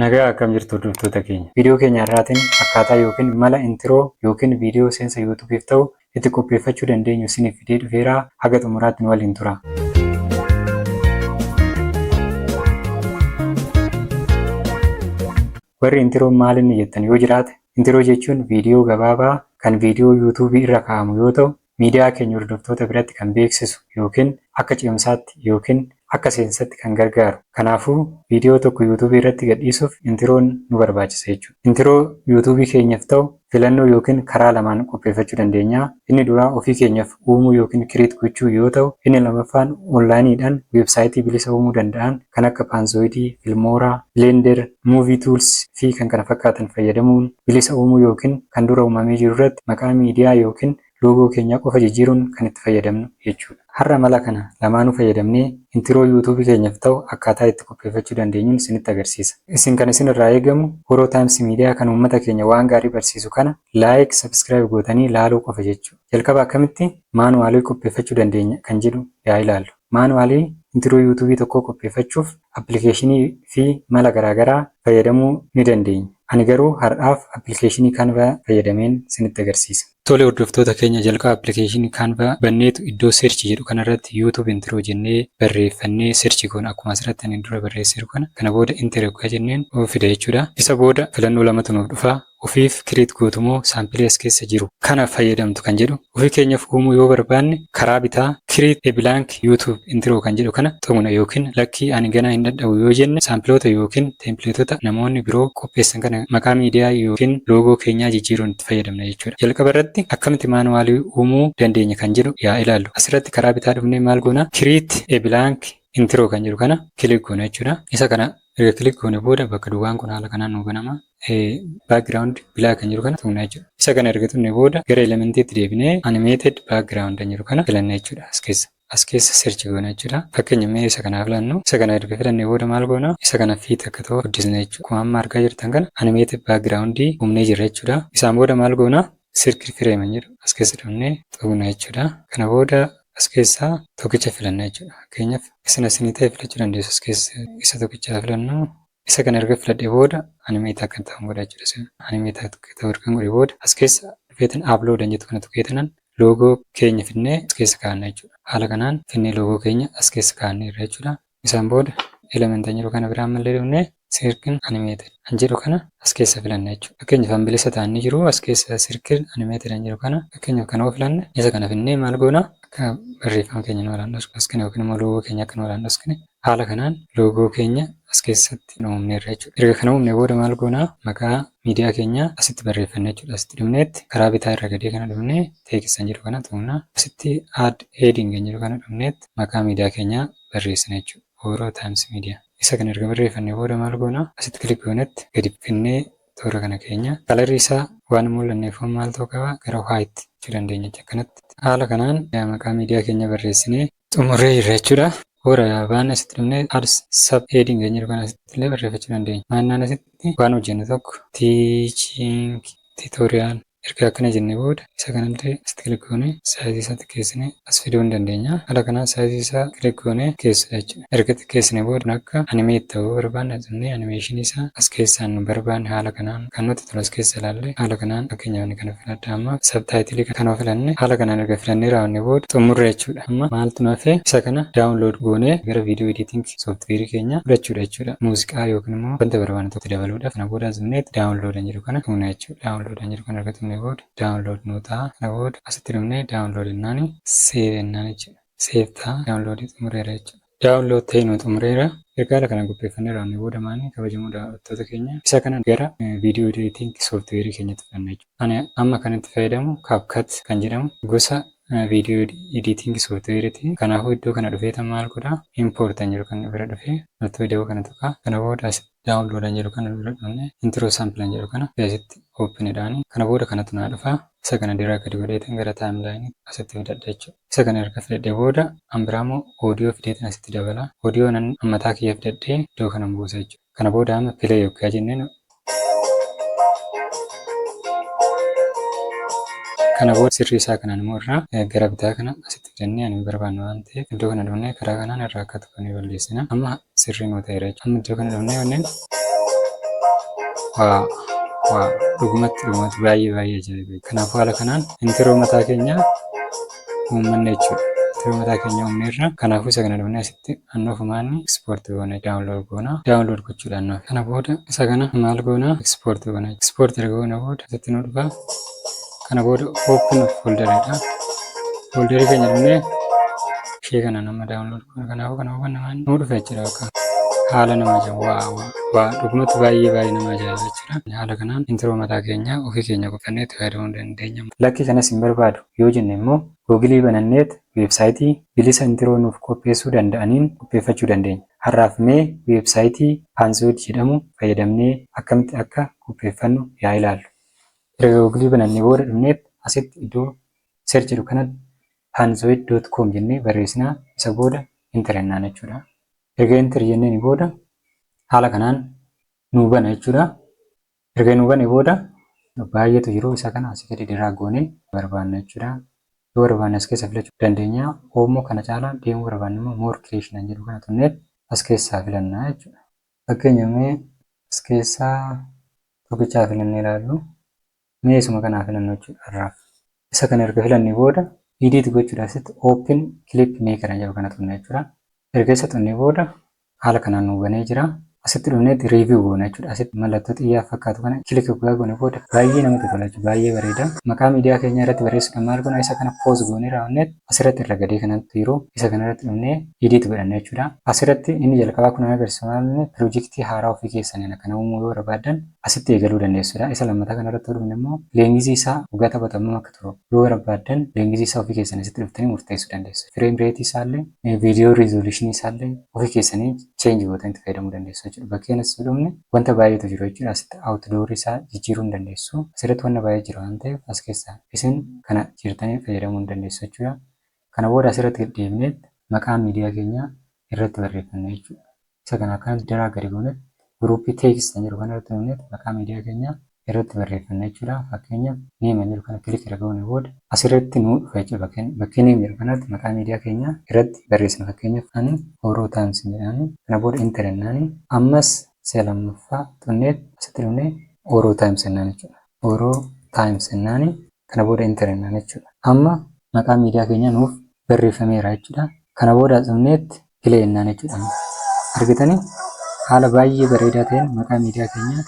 Nagaa akkam jirtu hordoftoota keenya. Viidiyoo keenya har'aatiin akkaataa yookiin mala intiroo yookiin viidiyoo seensa yuutuubiif ta'u itti qopheeffachuu dandeenyu isiniif fidee dhufeera. Haga xumuraatti nu waliin tura. Warri intiroo maal inni jettan yoo jiraate, intiroo jechuun viidiyoo gabaabaa kan viidiyoo yuutuubii irra kaa'amu yoo ta'u, miidiyaa keenya hordoftoota biratti kan beeksisu ykn akka ce'umsaatti ykn akka seensatti kan gargaaru. Kanaafuu viidiyoo tokko youtube irratti gadhiisuuf intiroon nu barbaachisa jechuudha. Intiroo youtube keenyaf ta'u filannoo ykn karaa lamaan qopheeffachuu dandeenya. Inni duraa ofii keenyaf uumuu ykn create gochuu yoo ta'u inni lamaffaan online dhaan website bilisa uumuu danda'an kan akka Panzoid, Filmora, Blender, Movie Tools, fi kkf fayyadamuun bilisa uumuu ykn kan dura uumamee jiru irratti maqaa miidiyaa ykn loogoo keenyaa qofa jijjiiruun kan itti fayyadamnu jechuudha. Har'a mala kana lamaanuu fayyadamnee intro YouTube keenyaf ta'u akkaataa itti qopheeffachuu dandeenyun isinitti agarsiisa. Isin kan isin irraa eegamu Oro Times Media kan uummata keenya waan gaarii barsiisu kana like, subscribe gootanii laaluu qofa jechuu. Jalqaba akkamitti manual qopheeffachuu dandeenya kan jedhu yaa ilaallu. Maanuwaalii intiroo yuutuubii tokkoo qopheeffachuuf appilikeeshinii fi mala garaagaraa fayyadamuu ni dandeenya. Ani garuu har'aaf appilikeeshinii Canva fayyadameen sinitti agarsiisa. Tole hordoftoota keenya jalqaba appilikeeshinii Canva banneetu iddoo search jedhu kanarratti youtube intro jennee barreeffannee search goona. Akkuma asirratti ani dura barreesseeru kana. Kana booda enter yoggaa jenneen fida jechuudha. Isa booda filannoo lamatu nuuf dhufa. ofiif create gootu moo sample as keessa jiru kana fayyadamtu kan jedhu ofii keenyaf uumuu yoo barbaanne karaa bitaa create a blank youtube intro kan jedhu kana tuqna ykn lakkii ani ganaa hin dhadhabu yoo jenne saampiloota ykn teempileetota namoonni biroo qopheessan kana maqaa miidiyaa ykn loogoo keenyaa jijjiiruun itti fayyadamna jechuudha. Jalqaba irratti akkamitti maanuwaalii uumuu dandeenya kan jedhu yaa ilaallu. Asirratti karaa bitaa dhufnee maal goona create a blank intro kan jedhu kana click goona jechuudha. Isa kana erga click goone booda bakka duwwaan kun haala kanaan nuu banama. background bilaa kan jiru kana tuqna jechuudha. Isa kana erga tuqne booda gara elementiitti deebinee animated background kan jiru kana filanna jechuudha as keessa. As keessa search goona jechuudha. Fakkeenya mee isa kana filannu. Isa kana erga filanne booda maal goona? Isa kana fiit akka ta'u guddisna jechuudha. Akkuma amma argaa jirtan kana animated background uumnee jirra jechuudha. Isaan booda maal goona? Circle frame kan jedhu as keessa dhufnee tuqna jechuudha. Kana booda as keessaa tokkicha filanna jechuudha. Fakkeenyaaf isin asinii ta'e filachuu dandeessu as keessa isa tokkicha filannu. Isa kana erga filadhee booda animate akka ta'an godha jechuudha. Isa animate akka ta'u ergan godhe booda as keessa dhufeetan upload an jettu kana tuqeetanan loogoo keenya finnee as keessa kaa'anna jechuudha. Haala kanaan finnee loogoo keenya as keessa kaa'anneerra jechuudha. Isaan booda element an jedhu kana bira ammallee dhufnee circle animated an jedhu kana as keessa filanna jechuudha. Fakkeenyaaf an bilisa ta'an ni jiru as keessa circle animated an jedhu kana fakkeenyaaf kana yoo filanne isa kana finnee maal goona akka barreeffama keenya nu haraan dhoksine yookiin immoo loogoo keenya akka nu haraan dhoksine Haala kanaan loogoo keenya as keessatti uumneerra jechuudha. Erga kana uumne booda maal goona? Maqaa miidiyaa keenyaa asitti barreeffanna jechuudha. Asitti dhufneetti karaa bitaa irra gadee kana dhufnee text kan jedhu kana tuqna. Asitti add heading kan jedhu kana dhufneetti maqaa miidiyaa keenyaa barreessina jechuudha. Oro Times Media. Isa kana erga barreeffanne booda maal goona? Asitti click goonetti gadi bukinnee toora kana keenya. Kalarri isaa waan hin mul'anneef maal ta'uu qaba? Gara white jechuu dandeenya jechuudha. Akkanatti. Haala kanaan maqaa miidiyaa keenyaa barreessinee xumurree jirra jechuudha. Hoora waan asitti dhumne ads sub heading kan jedhu kana asitti illee barreeffachuu dandeenya. Maannaan asitti waan hojjennu tokko teaching tutorial erga akkana jennee booda isa kanatti asitti click goonee size isaa xiqqeessine as fiduu ni dandeenya. Haala kanaan size isaa click goonee xiqqeessina jechuudha. Erga xiqqeessine booda akka animate ta'u barbaanne tuqnee animation isaa as keessaan nu barbaanne haala kanaan kan nuti Kan as keessa ilaalle haala kanaan fakkeenyaaf inni kana filadha amma subtitle kana yoo filanne haala kanaan erga filannee raawwannee booda xumurre jechuudha. Amma maaltu nu hafe isa kana download goonee gara video editing software keenya fudhachuudha jechuudha. Muuziqaa yookiin immoo wanta barbaanne tokko itti dabaluudha. Kana booda as dhufnee download kan jedhu kana tuqna jechuudha. Download kan jedhu kana erga tuqnee booda download nuu ta'a. Kana booda asitti dhufnee download jennaani save jennaan jechuudha. Save ta'a download xumureera jechuudha. Download ta'e nuu xumureera. Erga haala kanaan qopheeffannee raawwannee booda maali kabajamoo daawwattoota keenya isa kana gara video editing software keenyatti fudhanna jechuudha. Ani amma kan itti fayyadamu CapCut kan jedhamu gosa video editing software ti. Kanaafuu iddoo kana dhufee tan maal godha import kan jedhu kan bira dhufee mallattoo ida'uu kana tuqa. Kana booda as download kan jedhu kana bira dhufne intro sample kan jedhu kana asitti open dhaani. Kana booda kanatu naa dhufa. Isa kana drag gadi godhee tan gara timeline asitti fidadha jechuudha. Isa kana erga filadhee booda an biraamoo audio fideetan asitti dabala. Audio nan an mataa kiyya fidadhee iddoo kanan buusa jechuudha. Kana booda amma play oggaa jenneen kana booda sirrii isaa kanaan immoo irraa gara bitaa kana asitti fidannee ani hin barbaanne waan ta'eef iddoo kana dhufnee karaa kanaan irraa akka tuqanee balleessina. Amma sirrii nuu ta'eera jechuudha. Amma iddoo kana dhabnee wanneen waa waa dhugumatti dhugumatti baay'ee baay'ee ajaa'iba. Kanaafuu haala kanaan intiroo mataa keenya uummanne jechuudha. Intiroo mataa keenya uumneerra. Kanaafuu isa kana dhabnee asitti annoo fumaanni ekspoorti goona daawunlood goona. Daawunlood gochuudha annoo. Kana booda isa kana maal goona ekspoorti goona. Ekspoorti erga goona booda asitti nuu dhufa. kana booda open of folder dha folder keenya dhumnee ishee kana nama download godha kanaafuu kana hubanna waan nuu dhufe jira bakka haala nama ajaa'iba waa waa waa dhugumatti baay'ee baay'ee nama ajaa'iba jechuudha haala kanaan intiroo mataa keenya ofii keenya qopheeffannee itti fayyadamuu dandeenya lakki kanas hin barbaadu yoo jenne immoo googilii bananneet weebsaayitii bilisa intiroo nuuf qopheessuu danda'aniin qopheeffachuu dandeenya har'aaf mee weebsaayitii paansiwud jedhamu fayyadamnee akkamitti akka qopheeffannu yaa ilaallu Erga Google banannee booda dhumneet asitti iddoo search jedhu kanatti panzoid.com jennee barreessinaa isa booda enter jennaan jechuudha. Erga enter jenneen booda haala kanaan nuu bana jechuudha. Erga nuu bane booda baay'eetu jiru isa kana asii gadi diraa goonee barbaanna jechuudha. Yoo barbaanne as keessa filachuu dandeenya. Oomoo kana caalaa deemuu barbaanne immoo more creation jedhu kana tunneet as keessaa filanna jechuudha. Fakkeenya mee as keessaa tokkicha haa filannee ilaallu. Mee isuma kana haa filannu jechuudha har'aaf. Isa kana erga filannee booda edit gochuudhaaf asitti open clip maker jedhu kana tuqna jechuudha. Erga isa tuqnee booda haala kanaan nuu banee jira. Asitti dhufneetti review goona jechuudha. Asitti mallattoo xiyyaa fakkaatu kana click guyyaa goone booda baay'ee namatti tola jechuudha. Baay'ee bareeda. Maqaa miidiyaa keenyaa irratti barreessuudhaan maal goona isa kana post goonee raawwanneetti asirratti irra gadee kanatti jiru isa kanarratti dhufnee edit godhanna jechuudha. Asirratti inni jalqabaa kun agarsiisa maalni pirojektii haaraa ofii keessaniin akkana uumuu yoo barbaaddan asitti eegaluu dandeessudha. Isa lammataa kanarratti dhufne immoo leengizii isaa waggaa taphaatu hammam akka turu yoo barbaaddan leengizii isaa ofii keessanii asitti dhuftanii murteessuu dandeessu. Fireem reetii isaallee viidiyoo riizooluushinii isaallee ofii keessanii cheenji gootanii itti fayyadamuu dandeessu jechuudha. Bakkee kanatti yoo dhufne wanta baay'eetu jiru jechuudha. Asitti awutidoorii isaa jijjiiruu ni dandeessu. Asirratti wanna baay'ee jira waan ta'eef as keessaa. isin kana jirtaniin fayyadamuu ni dandeessu jechuudha. Kana booda asirratti gad deebinee maqaa miidiyaa keenyaa irratti barreeffanna jechuudha. Isa kana akkanatti daraa gadi goonet guruuppii teekst kan jedhu kanarratti dhufneet maqaa miidiyaa keenyaa irratti barreeffanna jechuudha. Fakkeenyaaf neem kan jedhu kana kilik erga goone booda asirratti nuu dhufa jechuudha. Bakkeen bakkee neem jedhu kanatti maqaa miidiyaa keenyaa irratti barreessina. Fakkeenyaaf ani Oro Times jedhaani. Kana booda enter jennaani. Ammas si'a lammaffaa xunneet asitti dhufnee Oro Times jennaan jechuudha. Oro Times jennaani kana booda enter jennaan jechuudha. Amma maqaan miidiyaa keenyaa nuuf barreeffameera jechuudha. Kana booda as dhufneetti play jennaan jechuudha amma. Argitanii? Haala baay'ee bareedaa ta'een maqaa miidiyaa keenyaa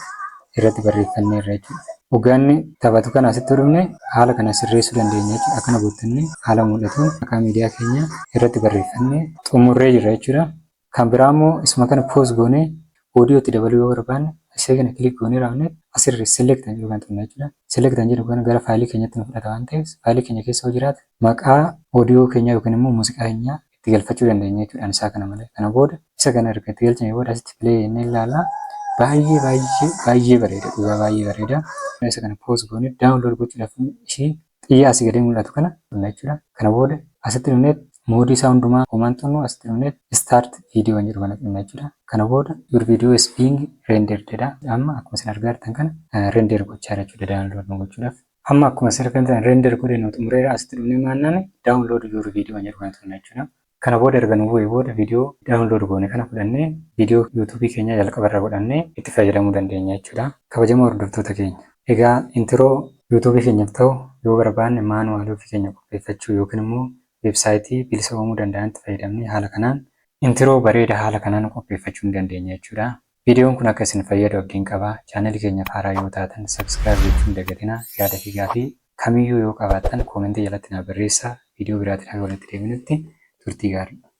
irratti barreeffanneerra jechuudha. Hoggaanni taphatu kana asitti yoo dhufne haala kana sirreessuu dandeenya jechuudha. Akkana goottanni haala mul'atuun maqaa miidiyaa keenyaa irratti barreeffannee xumurree jirra jechuudha. Kan biraa immoo isuma kana pause goonee audio itti dabaluu yoo barbaanne ishee kana click goonee raawwanne asirri select kan jedhu kan tuqna jechuudha. Select kan jedhu kana gara faayilii keenyatti nu fudhata waan ta'eef faayilii keenya keessa yoo jiraate maqaa audio keenyaa yookiin immoo muuziqaa keenyaa itti galfachuu dandeenya jechuudha ani isaa kana malee. Kana booda isa kana erga itti galchine booda asitti play jennee ilaalla. Baay'ee baay'ee baay'ee bareeda dhugaa baay'ee bareeda. Isa kana pause goonee download gochuudhaaf ishii Xiyya asii gadii mul'atu kana dhunna jechuudha. Kana booda asitti dhunnee moodii isaa hundumaa homaan xunnu asitti dhunnee start video kan jedhu kana xunna jechuudha. Kana booda your video is being rendered jedha. Amma akkuma isin argaa jirtan kana render gochaa jira jechuudha download nu gochuudhaaf. Amma akkuma isin argaa jirtan render godhee nu xumureera asitti dhunnee maannaan download your video kan jedhu kana xunna jechuudha. Kana booda erga nu bu'ee booda video download goone kana fudhannee video youtube keenyaa jalqaba irra godhannee itti fayyadamuu dandeenya jechuudha. Kabajamoo hordoftoota keenya egaa intro youtube keenyaf ta'u yoo barbaanne manual ofii keenya qopheeffachuu yookiin immoo website bilisa uumuu danda'anitti fayyadamnee haala kanaan intro bareeda haala kanaan qopheeffachuu ni dandeenya jechuudha. Viidiyoon kun akka isin fayyadu abdiin qaba. Channel keenyaf haaraa yoo taatan subscribe gochuu hin dagatinaa. Yaada fi gaafii kamiyyuu yoo qabaattan comment jalatti naa barreessaa. Viidiyoo biraatin haga walitti deebinutti turtii gaarii.